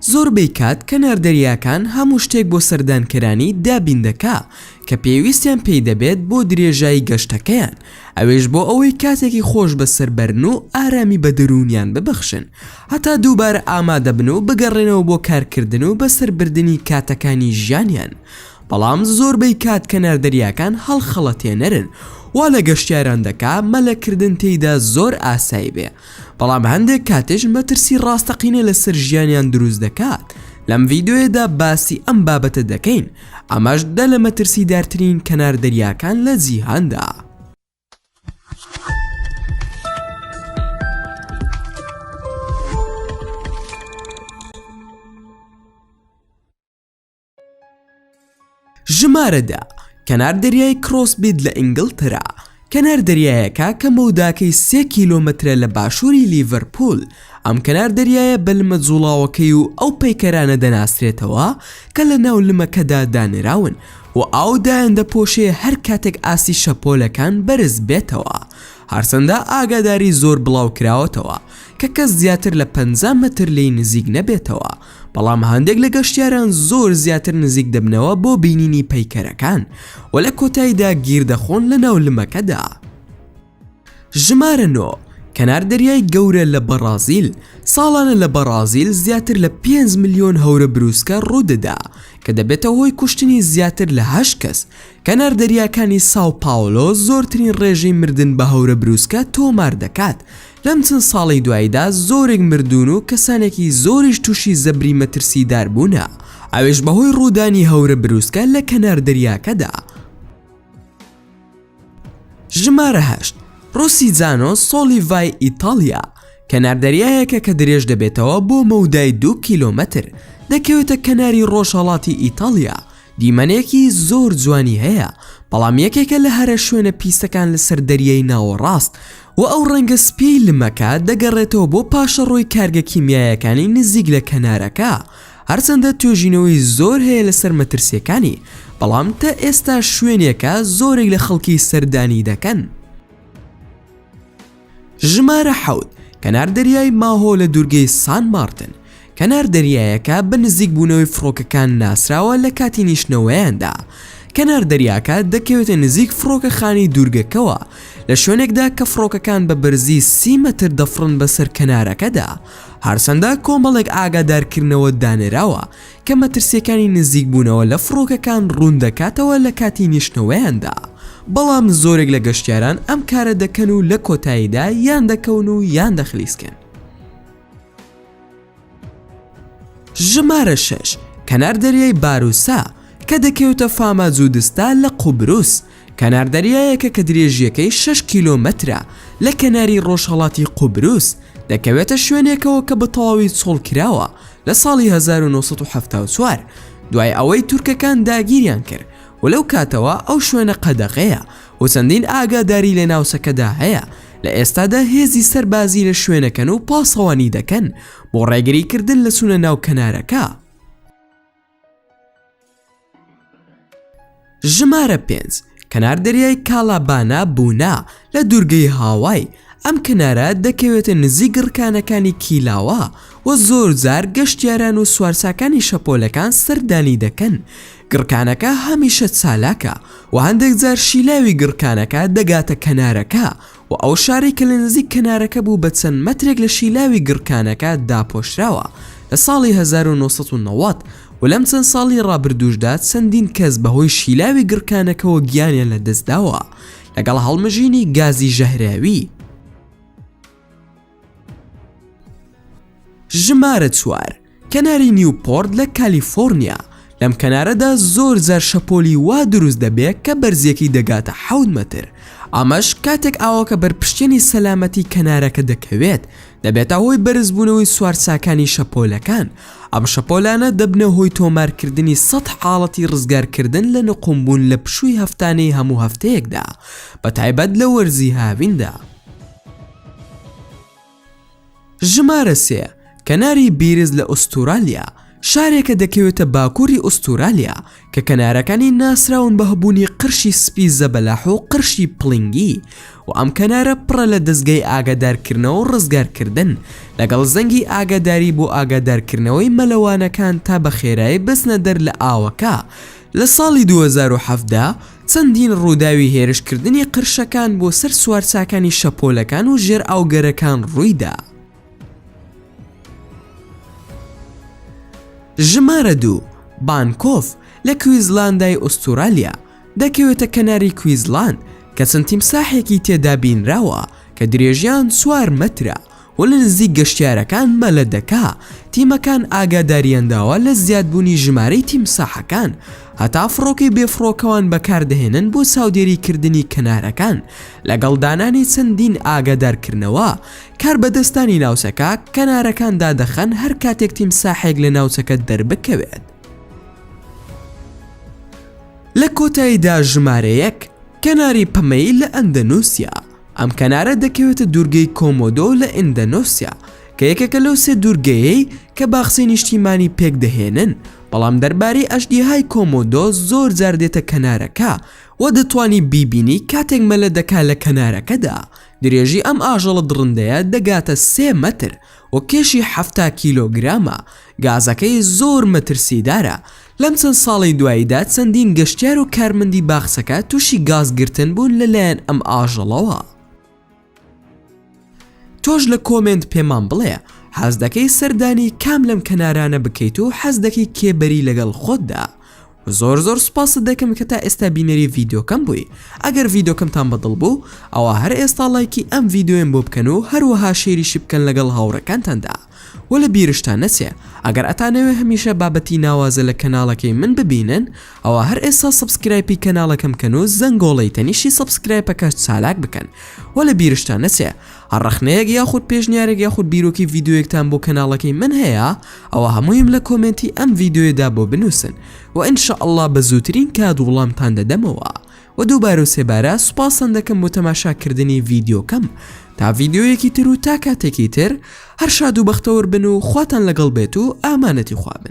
زۆربەی کات کەنار دەریاکان هەموو شتێک بۆ سەردانکەرانی دابین دەکا کە پێویستیان پێی دەبێت بۆ درێژایی گەشتەکەیان، ئەوێش بۆ ئەوەی کاتێکی خۆش بەسەر بەرن و ئارامی بە دەروونیان ببەخشن هەتا دووبارە ئامادە بن و بگەڕێنەوە بۆ کارکردن و بەسەر بردنی کاتەکانی ژیانیان بەڵام زۆربەی کات کەنار دەریاکان هەڵخەڵەتێنەرن وا لە گەشتیاران دەکا مەلەکردن تێیدا زۆر ئاسایی بێ بەڵام هەندێک کاتیش مەترسی ڕاستەقینە لەسەر ژیانیان دروست دەکات لەم ڤیدۆیەدا باسی ئەم بابەتە دەکەین ئەمەش دە لە مەترسی دارترین کەنار دەریاکان لە جیهاندا. ژمارە دە کەنار دەریای کرۆس بیت لە ئینگلترا کەنار دەریایەکە کە مەوداکەی سێ کیلۆمەترە لە باشووری لیڤەرپول ئەم کەنار دەریایە بەلمە جوڵاوەکەی و ئەو پەیکەرانە دەناسرێتەوە کە لە ناو لمەکەدا دانراون و ئاو دایان دەپۆشێ هەر کاتێک ئاسی شەپۆلەکان بەرز بێتەوە هەرسەندا ئاگاداری زۆر بڵاو کراوەتەوە کە کەس زیاتر لە 50 متر لی نزیک نەبێتەوە بەڵام هەندێک لە گەشتیاران زۆر زیاتر نزیک دەبنەوە بۆ بینینی پەیکەرەکان و لە کۆتاییدا گیر دەخۆن لە ناو لمەکەدا. ژمارە نۆ، کەنار دەریای گەورە لە بەڕازیل، ساڵانە لە بەڕازیل زیاتر لە پێنج ملیۆن هەورە بروسکە ڕوودەدا، کە دەبێتە هۆی کوشتنی زیاتر لە هەشت کەس، کەنار دەریاکانی ساو پاولۆ زۆرترین ڕێژەی مردن بە هەورە بروسکە تۆمار دەکات، لەم چەند ساڵەی دواییدا زۆرێک مردوون و کەسانێکی زۆریش تووشی زەبری مەترسیدار بوونە، ئەوێش بەهۆی ڕوودانی هەورە برووسکە لە کەنار دەریاکەدا. ژمارە هەشت، ڕۆسیجانۆ سۆلیڤای ئیتاڵیا، کەناردەریایەکە کە درێژ دەبێتەوە بۆ مەودای دوو کیلۆمەتر، دەکەوێتە کەناری ڕۆژهەڵاتی ئیتاڵیا، دیمەنێکی زۆر جوانی هەیە، بەڵام یەکێکە لە هەرە شوێنە پیسەکان لەسەر دەریای ناوەڕاست، و ئەو ڕەنگە سپیەی لمەکە دەگەڕێتەوە بۆ پاشەڕۆی کارگە کیمیایەکانی نزیک لە کەنارەکە، هەرچەندە توێژینەوەی زۆر هەیە لەسەر مەترسیەکانی، بەڵام تا ئێستا شوێنێکە زۆرێک لە خەڵکی سەردانی دەکەن. ژمارە حەوت، کەنار دەریای ماهۆ لە دوورگەی سان مارتن، کەنار دەریایەکە بە نزیک بوونەوەی فڕۆکەکان ناسراوە لە کاتی نیشتنەوەیاندا کەنار دەریاکە دەکەوێتە نزیک فڕۆکەخانەی دوورگەکەوە لە شوێنێکدا کە فڕۆکەکان بە بەرزی سی مەتر دەفڕن بەسەر کەنارەکەدا هەرچەندە کۆمەڵێک ئاگادارکردنەوە دانراوە کە مەترسیەکانی نزیک بوونەوە لە فڕۆکەکان ڕوون دەکاتەوە لە کاتی نیشتنەوەیاندا بەڵام زۆرێک لە گەشتیاران ئەم کارە دەکەن و لە کۆتاییدا یان دەکەون و یان دەخلیسکێن. ژمارە شەش، کەنار دەریای باروسا، کە دەکەوێتە فاماجودستا لە قوبروس، کەنار دەریایەکە کە درێژییەکەی شەش کیلۆمەترە لە کەناری ڕۆژهەڵاتی قوبروس، دەکەوێتە شوێنێکەوە کە بەتەواوی چۆڵکراوە لە ساڵی 1974 دوای ئەوەی تورکەکان داگیریان کرد و لەو کاتەوە ئەو شوێنە قەدەغەیە و چەندین ئاگاداری لە ناوچەکەدا هەیە، لە ئێستادا هێزی سەربازی لە شوێنەکەن و پاسەوانی دەکەن بۆ ڕێگری کردن لە چوونە ناو کەنارەکە. ژمارە پێنج، کەنار دەریای کالابانا بونا لە دوورگەی هاوای، ئەم کەنارە دەکەوێتە نزیک گڕکانەکانی کیلاوە، و زۆرجار گەشتیاران و سوارچاکانی شەپۆلەکان سەردانی دەکەن، گڕکانەکە هەمیشە چالاکە و هەندێک جار شیلاوی گڕکانەکە دەگاتە کەنارەکە و ئەو شارەی کە لە نزیک کەنارەکە بوو بە چەند مەترێک لە شیلاوی گڕکانەکە داپۆشراوە لە ساڵی 1990 و لەم چەند ساڵی ڕابردووشدا چەندین کەس بەهۆی شیلاوی گڕکانەکەوە گیانیان لەدەستداوە لەگەڵ هەڵمژینی گازی ژەهراوی. ژمارە چوار، کەناری نیوپۆرت لە کالیفۆرنیا، لەم کەنارەدا زۆر جار شەپۆلی وا دروست دەبێت کە بەرزییەکەی دەگاتە حەوت مەتر، ئەمەش کاتێک ئاوەکە بەر پشتێنی سەلامەتی کەنارەکە دەکەوێت دەبێتە هۆی بەرزبوونەوەی سوارچاکانی شەپۆلەکان، ئەم شەپۆلانە دەبنە هۆی تۆمارکردنی سەد حاڵەتی ڕزگارکردن لە نقومبوون لە پشووی هەفتانەی هەموو هەفتەیەکدا، بەتایبەت لە وەرزی هاویندا. ژمارە سێ، کەناری بیرز لە ئوستورالیا، شارێکە دەکەوێتە باکووری ئوستورالیا کە کەنارەکانی ناسراون بە هەبوونی قرشی سپی زەبەلاح و قرشی پڵینگی و ئەم کەنارە پڕە لە دەزگای ئاگادارکردنەوە و ڕزگارکردن لەگەڵ زەنگی ئاگاداری بۆ ئاگادارکردنەوەی مەلەوانەکان تا بەخێرایی بچنە دەر لە ئاوەکە لە ساڵی 2017 چەندین ڕووداوی هێرشکردنی قرشەکان بۆ سەر سوارچاکانی شەپۆلەکان و ژێرئاوگەرەکان ڕوویدا. ژمارە دوو، بانکۆف، لە کویزلاندای ئوستورالیا، دەکەوێتە کەناری کویزلاند، کە چەند تیمساحێکی تێدا بینراوە کە درێژیان چوار مەترە، و لە نزیک گەشتیارەکان مەلە دەکا، تیمەکان ئاگاداریان داوە لە زیادبوونی ژمارەی تیمساحەکان، هەتا فڕۆکەی بێفڕۆکەوان بەکاردەهێنن بۆ چاودێری کردنی کەنارەکان، لەگەڵ دانانی چەندین ئاگادارکردنەوە، کاربەدەستانی ناوچەکە کەنارەکان دادەخەن هەر کاتێک تیمساحێک لە ناوچەکە دەربکەوێت. لە کۆتاییدا ژمارە یەک، کەناری پەمەیی لە ئەندەنوسیا، ئەم کەنارە دەکەوێتە دوورگەی کۆمۆدۆ لە ئیندەنۆسیا، کە یەکێکە لەو سێ دوورگەیەی کە باخچەی نیشتیمانی پێکدەهێنن، بەڵام دەربارەی ئەژدیهای کۆمۆدۆ زۆر جار دێتە کەنارەکە و دەتوانی بیبینی کاتێک مەلە دەکات لە کەنارەکەدا، درێژی ئەم ئاژەڵە دڕندەیە دەگاتە سێ مەتر و کێشی حەفتا کیلۆگرامە، گازەکەی زۆر مەترسیدارە، لەم چەند ساڵەی دواییدا چەندین گەشتیار و کارمەندی باخچەکە تووشی گاز گرتن بوون لە لایەن ئەم ئاژەڵەوە. تۆش لە کۆمێنت پێمان بڵێ حەز دەکەی سەردانی کام لەم کەنارانە بکەیت و حەز دەکەی کێ بەری لەگەڵ خۆتدا؟ و زۆر زۆر سوپاست دەکەم کە تا ئێستا بینەری ڤیدۆکەم بووی ئەگەر ڤیدۆکەمتان بەدڵ بوو ئەوا هەر ئێستا ڵایکی ئەم ڤیدۆیەم بۆ بکەن و هەروەها شێریشی بکەن لەگەڵ هاوڕێکانتاندا. وە لە بیرشتا نەچێ ئەگەر ئەتانەوێ هەمیشە بابەتی ناوازە لە کەناڵەکەی من ببینن ئەوا هەر ئێستا سەبسکرایپی کەناڵەکەم بکەن و زەنگۆڵەی تەنیشتی سەبسکرایپەکەش چالاک بکەن وە لە بیرشتان نەچێ هەر ڕەخنەیەک یاخود پێشنیارێک یاخود بیرۆکی ڤیدۆیەکتان بۆ کەناڵەکەی من هەیە ئەوا هەموویم لە کۆمێنتی ئەم ڤیدۆیەدا بۆ بنوسن وە ان شاء اللە بە زووترین کات وڵامتان دەدەمەوە وە دووبارەو سێبارە سوپاستان دەکەم بۆ تەماشا کردنی ڤیدیۆکەم تا ڤیدیۆیەکی تر و تا کاتێکی تر هەر شاد و بەختەوەر بن و خواتان لەگەڵ بێت و ئامانەتی خوا بن.